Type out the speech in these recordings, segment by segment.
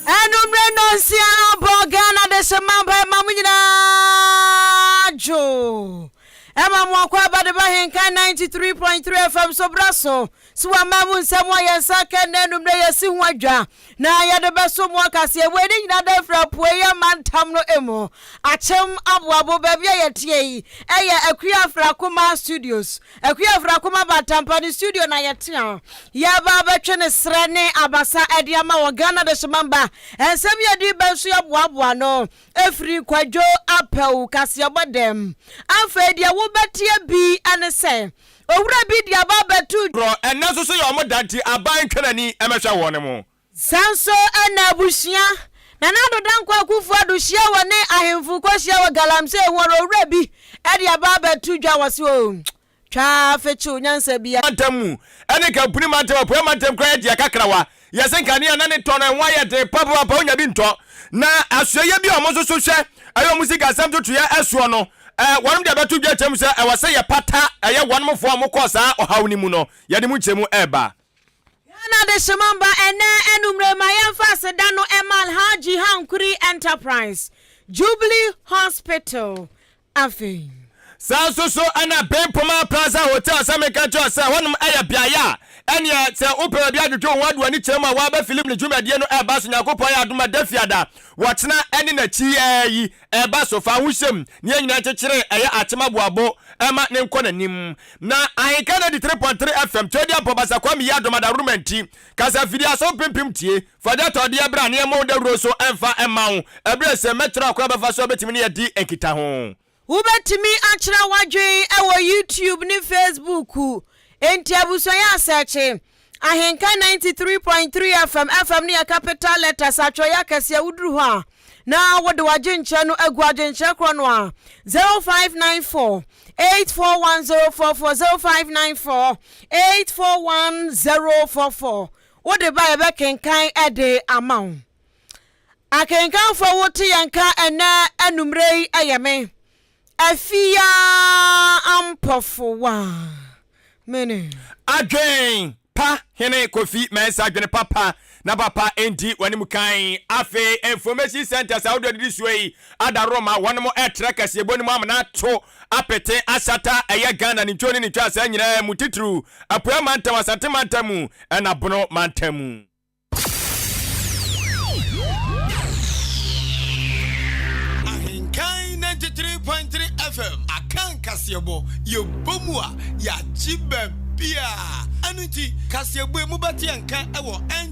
Anumere nnɔnsia no bɔ Ghana Adesemma mpae ma mo nyinaa dwo. Ɛma mo akwaaba de ba Henkan 93.3 FM so bra so So wɔama mo nsɛm a yɛn nsa aka nnɛ anwummere a yɛasi ho adwa na yɛde bɛsom mo akaseɛ? Wei ne nyinaa da firi apueeɛ amantam no mu, Akyem Aboabo, baabi a yɛteɛ yi yɛ Akua Afrakoma Studios, Akua Afrakoma Bantampa ne studio na yɛteɛ a yɛreba abɛtwe ne serɛ ne abasa de ama wɔ Ghana Adehyemamba Nsɛm yi adi bɛ nso yɛboaboa ano firi Kwadwo Apaw kaseɛbɔ dɛm. Afei deɛ wobɛteɛ bi ne sɛ Owura bi de aba abɛto. Korɔ, ɛnnɛ nso so yɛ wɔn da nti aban ntwɛn ani mmɛhwɛ wɔn mo. Saa nso na abusua. Nana Addo Dankwa Akufo-Addo hyia wɔ ne ahemfo kɔhyia wɔ Galamsey ho ara owura bi de aba abɛto dwa wɔ se oo twa fekyew nyansa biara. Mantam mu ɛne Kampuni Mantam, Apueɛ Mantam koraa yɛ deɛ kakrawa Yɛse nkanea na ne tɔ no ɛho ayɛ den papaapa onya bi ntɔ na asoɛyɛ bi a ɔmo nso so hwɛ ɛyɛ ɔmo sikasɛm totoyɛ ɛsoɔ no ɛɛ wɔnom de abɛto dwa kyɛm sɛ ɛwɔ sɛ yɛpata ɛyɛ wɔnom foɔ a ɔmo kɔɔ saa ɔhaw no mu no yɛde mo nkyɛmu ɛɛba. Ghana Adehyemma Mba Ɛnnɛ Anumere Ma Yɛmfa Aseda No Ɛma Alhaji Hankuri Enterprise, Jubilee Hospital, Afei. Saa nso so na Ben Poma Plaza Hotel sɛ menka nkyerɛ wo sɛ hɔnom yɛ beaeɛ a ɛneɛ sɛ wopɛ baabi adwodwo wo ho ade w'ani kyerɛ mu a woaba film ne dwumadie no ɛba so Nyankopɔn ayɛ adom a Dafiada wɔkyena ɛne nakyi ɛɛ yi ɛba so fa ho hyɛm ne yɛn nyinaa nkyekyere ɛyɛ akyem aboabo ɛma ne nkɔ nanim na ahenka 93.3 FM Twedeampɔ Basakwami Yiadom Adaworoma nti kasa fidie asɔw pempem tie Fa dɛtɔdeɛ bra na yɛmmɔ wo dawuro nso mfa mma wo ɛberɛ sɛ mɛkyerɛ ɔkwan a wobɛfa so abɛtumi ne yɛadi nkitaho. Wobɛtumi akyerɛ w'adwene wɔ YouTube ne Facebook Enti abusua yɛ asɛɛkye Ahenka 93.3 FM FM no yɛ capital letters atwerɛeɛ akɛseɛ Woduru hɔ a na wode w'adwenkyerɛ no agu adwenkyerɛ korɔ no a 0594 841044 0594 841044 Wode ba yɛbɛkenkan de ama wo. Akenkanfo a wote yɛn nka ɛnɛ anummerɛ yi yɛ me, Afia Ampɔfowa. Mene. Adwen pa Hene Kofi Mensah Adwene papa na papa ndi w'anim kan Afei information centers ahodoɔ a ɛdidi soɔ yi Ada Roma wɔnom ɛɛtra kaseɛbɔ no mu amena ato apete asata ɛyɛ Ghana ne ntwoo ne ne twaasaa nyinaa mu titiriw Apueɛ Mantam, Asante Mantam mu ɛna Bono Mantam mu. Ahenkan ninety three point three FM Akan kaseɛbɔ yɛ bɔ mu a yɛagye baabiaa ɛno nti kaseɛbɔ yi mobɛte yɛn nka wɔ N.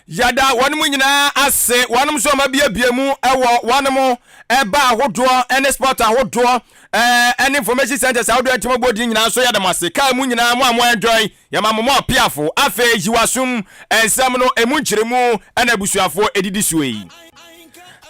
Yɛda wɔnom nyinaa ase, wɔnom nso a wɔabiabia mu wɔ wɔnom ɛba ahodoɔ ne sport ahodoɔ ɛne information centers ahodoɔ ɛnti mɔbɔ din nyinaa nso yɛda mo ase kaa mu nyinaa mo a mo enjoy yɛma mo mo apiafo afei yiwasum nsɛm no emu nkyerɛmu ɛna abusuafoɔ ɛdidi soɔ yi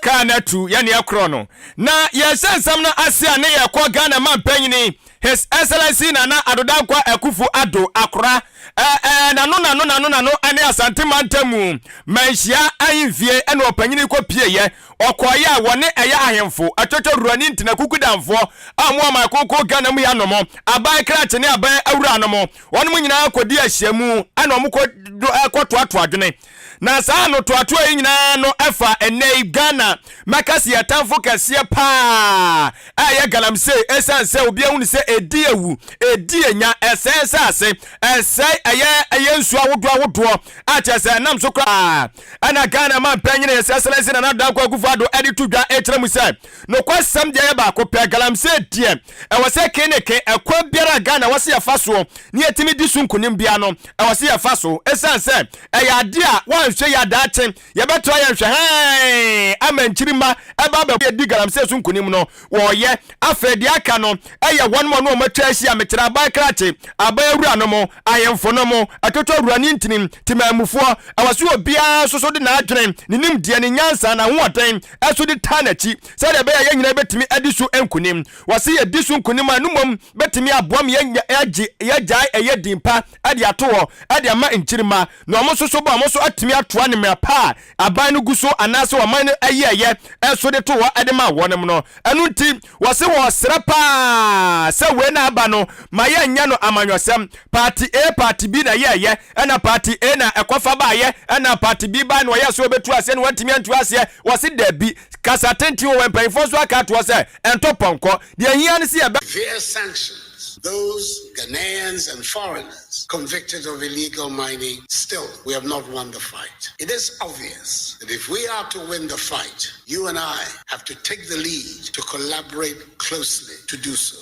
kaa no atu yɛne ɛkorɔ no na yɛhyɛ nsɛm no ase a ne yɛkɔ Ghana mampanyini His Excellency Nana Addo Dankwa Akuffo Addo, Akora, ɛɛ, n'ano n'ano n'ano n'ano ne Asante Mantamu Manhyia Ahemfie na ɔpanyin kɔ pieeɛ, ɔkɔɔeɛ a wɔne ɛyɛ ahemfo, Atwotwo Ruwa ne Ntina Kuku Danfoɔ a wɔn wɔ ɔman kronkron Ghana mu hanom, Aban Krakye ne Aban Awuranom, wɔnom nyinaa kɔdi ahyiamu na wɔn kɔ do kɔ toatoa adwene. Na saa anotoatoa yi nyinaa no ɛfa ɛnɛ yi Ghana mɛkɛse yɛ tamfo kɛseɛ paa a ɛyɛ galamsey ɛsiane sɛ obi ahu no sɛ ɛdi awu, ɛdi anya, ɛsɛe nsase, ɛsɛe ɛyɛ ɛyɛ nsuo ahodoɔ ahodoɔ a kyerɛ sɛ ɛnam so koraa ɛna Ghana ma mpanyini yɛ sɛ sɛlɛnse na nadankɔ akufo ado ɛde to dwa ɛkyerɛ mu sɛ nokwasɛm deɛ yɛ baako pɛ galamsey deɛ ɛwɔ sɛ ke ne ke ɛkwan biara a Ghana wɔ sɛ yɛfa soɔ na yɛtumi di so nkunim biara no, ɛwɔ sɛ yɛfa so. Ɛsiane sɛ ɛyɛ adeɛ a woanhwɛ yie a daakye yɛbɛto ayɛ nhwɛhaan ama nkyirimma ɛba abɛbɔ yɛn di galamsey so nkunim no, wɔreyɛ. Afei deɛ aka no yɛ wɔnom a na wɔatwa ahyia, mekyerɛ aban krakye, aban awuranom, ahemfonom, atotowura ne ntinim temanmufoɔ. Ɛwɔ sɛ obiara nso so de n'adwene, ne nimdeɛ, ne nyansa, n'ahoɔden so de taa n'akyi. sɛdeɛ ɛbɛyɛ a yɛn nyinaa bɛtumi adi so nkonim. Wɔse yɛdi so nkonim a, ɛno mmom bɛtumi aboa ma yɛanya yɛagye yɛagyae ɛyɛ din pa de ato hɔ de ama nkyirimma, na wɔn nso so ba wɔn nso atumi atoa ne mmerɛ pa a aban no gu so anaase ɔman no yɛɛyɛ nso de to hɔ de maa wɔnom no. Ɛno nti wɔse wɔresrɛ pa ara sɛ wei na aba no ma yɛnnyɛ no amanyɔsɛm, Party A, Party B na yɛɛyɛ, ɛna party A na ɛkɔfa baayɛ ɛna party B bae na ɔyɛ sɛ ɔbɛtu aseɛ na wantumi antu aseɛ, wɔse dabi, kasa tenten wɔ hɔ, mpanyinfoɔ nso aka ato hɔ sɛ ɛntɔ pɔnkɔ, deɛ ɛhia ne sɛ yɛbɛ. Via sanctions those Ghanaians and foreigners convicted of illegal mining, still we have not won the fight, it is obvious that if we are to win the fight you and I have to take the lead to collaborate closely to do so.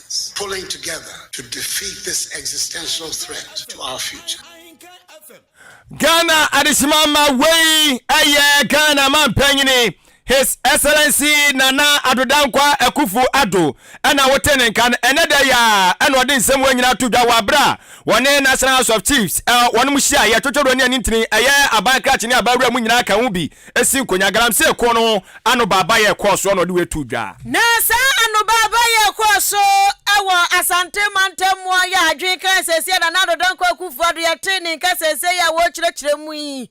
pulling together to defeat this existential threat to our future. Ghana adesima ma wei ɛyɛ Ghana mampanyini His Excellency Nana Addo Dankwa Akufo Addo ɛna wote ne nka no ɛnɛ da yi a ɛna ɔde nsɛm wɔ nyinaa to dwa wɔ abere a wɔne National House of Chiefs wɔn mu hyia yɛ twotworo ne anintini ɛyɛ aban krakye ne aban wura mu nyinaa ka ho bi si nkonya. Galamsey kuo no ho anobaabayɛ kɔɔ soɔ na ɔde wei too dwa. Na saa anobaabayɛ kɔɔ so wɔ Asante mantam mu a ɔyɛ adwene kan seesei a Nana Addo Dankwa Akufo-Addo yɛtee ne nka seesei a wɔrekyerɛkyerɛ mu yi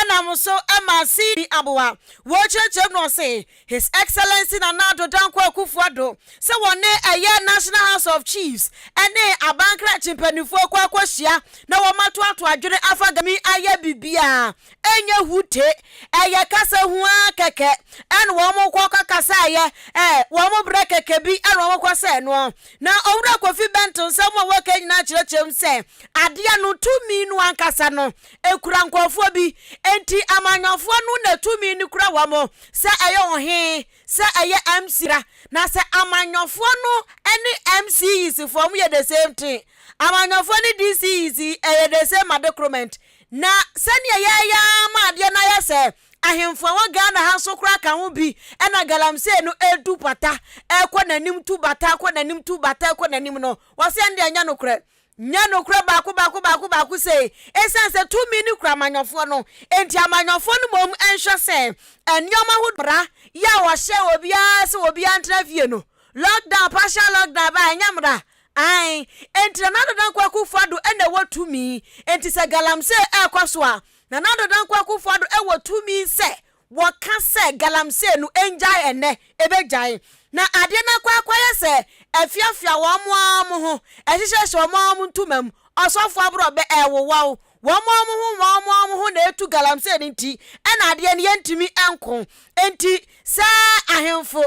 nam so ma Cde Aboa. Wɔrekyerɛkyerɛ mu no ɔse His Excellency Nana Addo Dankwa Akufo-Addo sɛ wɔne ɛyɛ National House of Chiefs ne abankrakye mpaninfoɔ akɔ akɔhyia na wɔato ato adwene afa Gami ayɛ biribiara ɛnyɛ hute ɛyɛ kasa huaa kɛkɛ ɛna wɔkɔ akɔkasaeɛ ɛɛ wɔn berɛ kɛkɛ bi ɛna wɔkɔ sɛɛ noɔ na Owura Kofi Bento nsɛm a wɔka nyinaa kyerɛkyerɛm sɛ adeɛ no tumi no ankasa no ekura nkorɔfoɔ bi, enti amanyɔfoɔ no na tumi no kura wɔn, sɛ ɛyɛ ɔhe, sɛ ɛyɛ MC a, na sɛ amanyɔfoɔ no ne MCEs foɔ wɔyɛ the same thing, amanyɔfoɔ ne DCEs yi ɛyɛ the same adekoromɛnt, na sɛdeɛ yɛɛyɛ ara ma adeɛ no ayɛ sɛ ahemfo a wɔ Ghana ha nso koraa ka ho bi na galamsey no ɛretu pata ɛrekɔ n'anim tu bata ɛrekɔ n'anim tu bata ɛrekɔ n'anim no, wɔse ɛnde ɛnyɛ nokorɛ. Nyɛ nokorɛ baako baako baako baako sei, ɛsiane sɛ tumi no kura amanyɔfoɔ no nti, amanyɔfoɔ no mmom nhwɛ sɛ nneɛma ahodoɔ, mmara yi a wɔhyɛ obiara sɛ obiara ntena fie no, lockdown, partial lockdown baa ɛnyɛ mmara? Aane, enti Nana Addo Dankwa Akuffo Addo na ɛwɔ tumi, enti sɛ galamsey ɛrekɔ so a, Nana Addo Dankwa Akuffo Addo wɔ tumi sɛ Wɔka sɛ galamsey no ngyae ɛnnɛ, ɛbɛgyae. Na adeɛ no akɔ akɔyɛ sɛ afiafia wɔn ara wɔn ho, ɛhyehyɛhyɛ wɔn ara wɔn ntoma mu, ɔsɔfoɔ aborɔbɛ, ɛrewowa wo. Wɔn ara wɔn ho wɔn ara wɔn ho na ɛtu galamsey no nti na adeɛ no yɛntumi nko. Enti sɛ ahemfo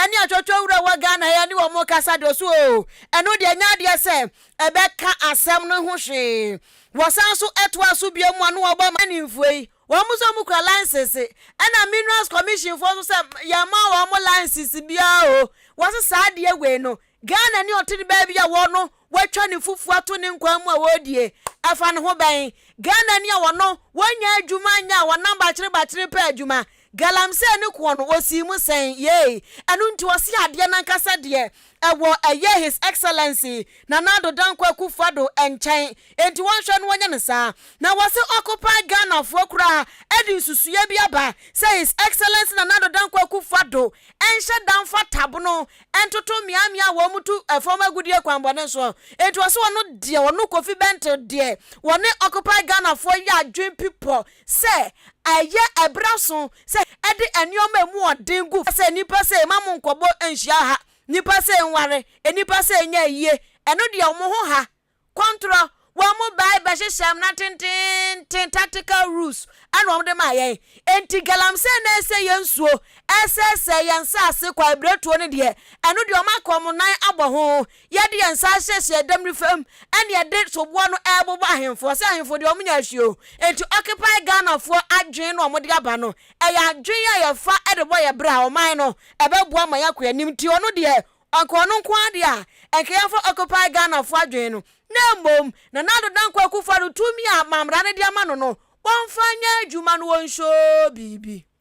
ne atwotwo wura wɔ Ghana ha yi ne wɔn rekasa deɛ ɔso oo, ɛno deɛ ɛnyɛ adeɛ sɛ ɛbɛka asɛm no ho hwee. Wɔsan nso toa so bio mu a na wɔbɔ ma mpanimfoɔ yi Wɔn nso wɔkura license. Ɛna minerals commission foɔ nso sɛ yɛn mma wɔn mo license biara o. Wɔse saa adeɛ wei no Ghana ni ɔte ne baabi a wɔno watwa ne fufuo ato ne nkwan mu a wɔredie. Ɛfa ne ho bɛn? Ghana ni a wɔno wɔnnya adwuma nyɛ a wɔnam bakyere bakyere pɛ adwuma. Galamsey ne koɔ no ɔsii mu sɛn? Yei. Ɛno nti wɔse adeɛ no ankasa deɛ Ɛwɔ ɛyɛ His Excellency Nana Addo Dankwa Akuffo Addo nkyɛn nti wɔnhwɛ no wɔnyɛ no saa. Na wɔse occupy Ghanafoɔ koraa ɛde nsusuiɛ bi aba sɛ His Excellency Nana Addo Dankwa Akuffo Addo nhyɛ da mfa tabono ntoto mmeammea a wɔtu fam agudie kwanbɔne soɔ. Nti wɔse ɔno deɛ ɔno Kofi Bente deɛ wɔne occupy Ghanafoɔ yɛ adwen pipɔ sɛ ɛyɛ ɛbra so sɛ ɛde nneɛma a emu wɔ den gu fam sɛ, Nnipa sei, mma mo nkɔbɔ nhyia ha, nnipa sei nware, nnipa sei nyɛ ayie, ɛno deɛ wɔn ho ha, kɔntorɔ, wɔn bae bɛhyehyɛɛ mmara tenteenten, tactical rules, ɛna wɔn de maa yɛn. Enti galamsey na ɛresɛe yɛn nsuo, ɛresɛesɛe yɛn nsaase, kwaebiretuo no deɛ, ɛno deɛ wɔaka wɔn nan abɔ ho, Yɛde yɛn nsa asiesie ɛdɛm no fam ɛne yɛde soboɔ no ɛrebobɔ ahemfoɔ sɛ ahemfo deɛ wɔn nyɛ ahwie o nti occupy Ghanafoɔ adwene no a wɔde aba no ɛyɛ adwene a yɛfa ɛde bɔ yɛ bra ɔman no ɛbɛboa ma yɛakɔ anim nti ɔno deɛ ɔnka ɔno nko ara deɛ a ɛnka yɛmfa occupy Ghanafoɔ adwene no na mmom Nana Addo Dankwa Akufo-Addo tumi a mammara no de ama no no wɔmfa nyɛ adwuma no wɔnhyɛ biribi.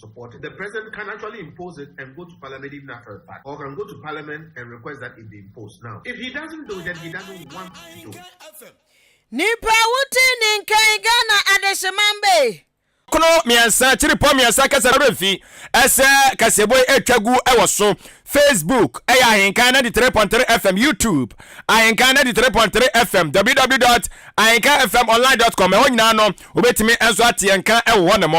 support the president can actually impose it and go to parliament even after the fact or can go to parliament and request that it be imposed now if he doesn't do it then he doesn't want to do it. nipa wuti ni nkan ghana adehyeman bee. Kono mmiɛnsa, Tiripɔ mmiɛnsa kasa no remfi ɛsɛ kaseɛbɔ yi ɛtwa gu ɛwɔ so Facebook ɛyɛ Ahenkan 93.3 FM YouTube Ahenkan 93.3 FM www.ahenkanfmonline.com ɛhɔ nyinaa no wobɛtumi ɛnso ateɛ nka ɛwɔ hɔ nom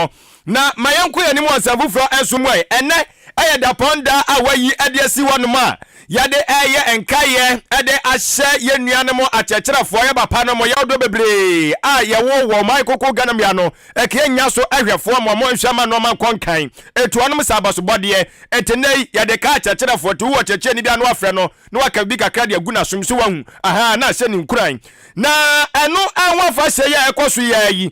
Na ma yɛnkɔ yɛn anim wɔ Nsɛm Foforɔ Nso mu ɛ. Ɛnnɛ yɛ dapɔn da a wɔayi de asi hɔnom a yɛde reyɛ nkaeɛ de ahyɛ yɛn nuanom akyerɛkyerɛfoɔ, yɛn papa nom, yɛn ɔdɔ bebree a yɛwɔ wɔ ɔman koko Ghana mu ha no, ɛkɛɛ nnya so hwɛfoɔ ma wɔnhwɛ mma nnoɔma nkɔ nkan ɛtu wɔnom sɛ abasobɔdeɛ. Enti nnɛ yi yɛde ka akyerɛkyerɛfoɔ nti wowɔ kyerɛkyerɛni biara na wafrɛ no na waka biribi kakra de agu n'asom so wahu, ahaa, na ahyɛ no nkuran. Na ɛno ho afahyɛ yi a ɛkɔ so yi ara yi,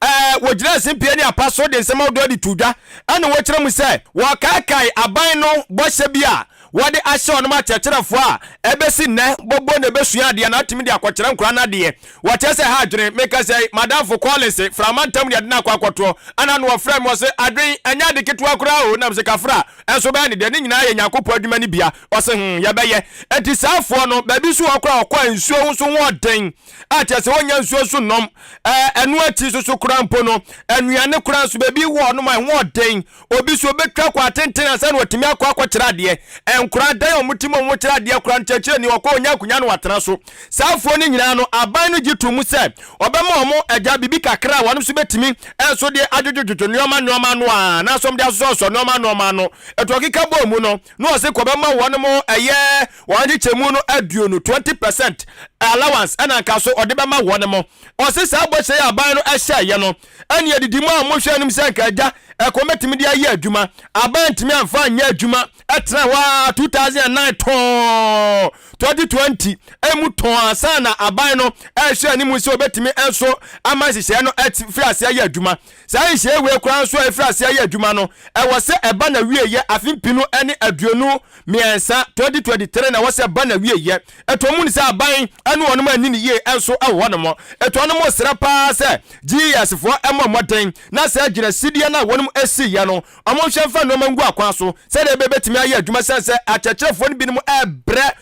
Ɛɛ, wɔgyinaa simpie ne apa so de nsɛm ahodoɔ de too dwa. Ɛna wɔkyerɛ mu sɛ wɔkaakae aban no bɔhyɛ bi a wɔde ahyɛ wɔnom akyerɛkyerɛfoɔ a ɛbɛsi nnɛ bɔbɔ na ɛbɛsua adeɛ na atumi de akɔkyerɛ nkwadaa no adeɛ. Wɔkyerɛ sɛ ɛha adwene. Meka sɛ, Madamfo Collins, Frama ntam ne yɛde no akɔ akɔtoɔ. Ɛna ano wɔfrɛɛ me, wɔse, Adwen, ɛnyɛ ade ketewa koraa o. Nam se, Kafra, ɛnso wobɛyɛ no dɛn? Ne nyinaa yɛ Nyankopɔn adwuma no bia. Ɔse, Hum, yɛbɛyɛ. Ɛnti saa afoɔ no, baabi nso wɔ hɔ koraa a wɔkɔ a nsuo ho nso ho ɔden. a kyerɛ sɛ wɔnya nsuo nso nom. Ɛno akyi nso so koraa mpo no, nnuane koraa nso baabi wɔ hɔnom a ɛho ɔden. Obi nso obɛtwa kɔ atenten ansa na watumi akɔ akɔkyerɛ adeɛ. Nkoraa dan a wɔtim a wɔkyerɛ adeɛ koraa no kyerɛkyerɛni ɔkɔ a ɔnya akonya na watena so. Saa afoɔ no nyinaa no aban no gye to mu sɛ ɔbɛma wɔn agya biribi kakra a wɔn nso bɛtumi nso de adwodwodwodwo nnoɔma nnoɔma ano a anaasɛ wɔde asosɔsosɔ nnoɔma nnoɔma ano. Ɛto ɔkeka bɔɔ mu no, na ɔse kɔ bɛma wɔn mo ɛyɛ wɔn nkyekyɛmu no aduonu, 20 percent, allowance ɛna nka so ɔde bɛma wɔn mo. Ɔse saa bɔhyɛ yi a aban no ɛhyɛɛyɛ no ɛne adidi mu a wɔn hwɛ anim sɛ nka agya ɛkɔn bɛtumi de ayɛ adwuma, aban antumi amfa anyɛ adwuma. Ɛtena hɔ ara 2009 tɔɔn 2020 ɛmu tɔɔn ansa na aban no ɛrehwɛ anim sɛ ɔbɛtumi nso ama nhyehyɛɛ no ɛte firi aseɛ ayɛ adwuma. Saa nhyiae wei koraa nso a efiri ase ayɛ adwuma no, ɛwɔ sɛ ɛba n'awieɛ afe mpenu ne aduonu mmiɛnsa, 2023 na ɛwɔ sɛ ɛba n'awieɛ. Ɛtɔ mu no sɛ aban ne wɔnom a anni no yie nso wɔ hɔnom. Enti wɔnom resrɛ pa ara sɛ GES foɔ mmɔ mmɔden na saa gyinasidie no a wɔnom asiiɛ no wɔnhwɛ mfa nnoɔma ngu akwan so sɛdeɛ ɛbɛyɛ ɛbɛtumi ayɛ adwuma, ɛsiane sɛ akyerɛkyerɛfoɔ no binom rebrɛ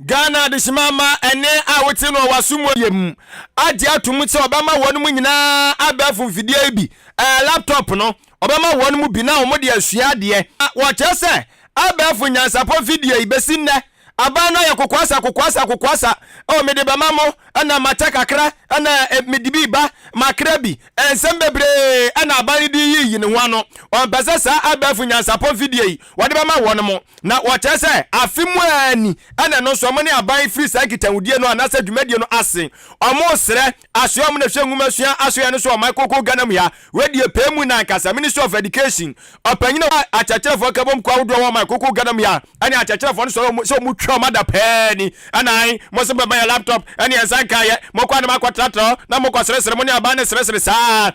Ghana adehyeman mma ɛnne a wote no wɔ w'asom wɔ yam agye atom sɛ ɔbɛma wɔn mu nyinaa abɛɛfo mfidie yi bi, ɛɛ laptop no, ɔbɛma wɔn mu bi na wɔn de asua adeɛ. Wɔkyerɛ sɛ abɛɛfo nyansapɔ mfidie yi bɛsi nnɛ aban no ayɛ kokoasa kokoasa kokoasa, oh mede bɛma mo na makyɛ kakra na mede bi ba makra bi, nsɛm bebree na aban no de reyiyi ne ho ano, ɔmpɛ sɛ saa abɛɛfo nyansapɔ mfidie yi wɔde bɛma wɔn mo, na wɔkyerɛ sɛ afe mu ara ni, ɛna ɛno nso wɔn ne aban firi saa nkitahudie no anaasɛ dwumadie no ase. Wɔsrɛ, asoɛ wɔn na hwɛ nwuma sua asoɛeɛ no so ɔman kronkron Ghana mu ha. Wei deɛ pɛɛ mu na ankasa, Ministry of Education, ɔpanyin a ɔwɔ akyerɛkyerɛfoɔ nkabom kuo ahodoɔ wɔ ɔman kronkron Ghana mu ha ne akyerɛkyerɛfoɔ no sɔre wɔn sɛ wɔn twa wɔn ada pɛɛ ni, ɛna ae, mo nso bɛma yɛn laptop ne yɛn nsa nkaeɛ, mo kɔ a na mo akɔtratra hɔ na mo kɔ seresere, mo ne aban no seresere saa ara.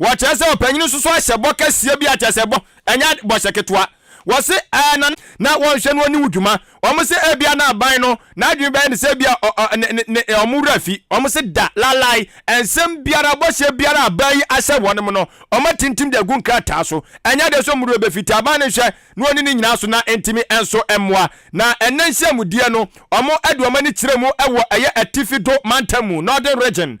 Wɔkyerɛ sɛ ɔpanyin no soso ahyɛ bɔ kɛseɛ bi a kyerɛ sɛ bɔ, ɛnyɛ ade, bɔhyɛ ketewa. Wɔse ɛɛ na na wɔnhwɛ no ɔne wo dwuma. Wɔse ebia na aban no n'adwene bɛyɛ ne sɛ ebia ɔ ɔ ne ne ne wɔn wura fi. Wɔse da, lalae, nsɛm biara, bɔhyɛ biara a aban yi ahyɛ wɔnom no, wɔatintim de agu nkrataa so. Ɛnyɛ ade nso mmoroɔ bɛfi te aban no nhwɛ na ɔnni ne nyinaa so na ntumi nso mmoa. Na ɛnnɛ nhyiamudeɛ no wɔde wɔn ani kyerɛ mu wɔ ɛyɛ Atifi Do mantam mu, Northern Region,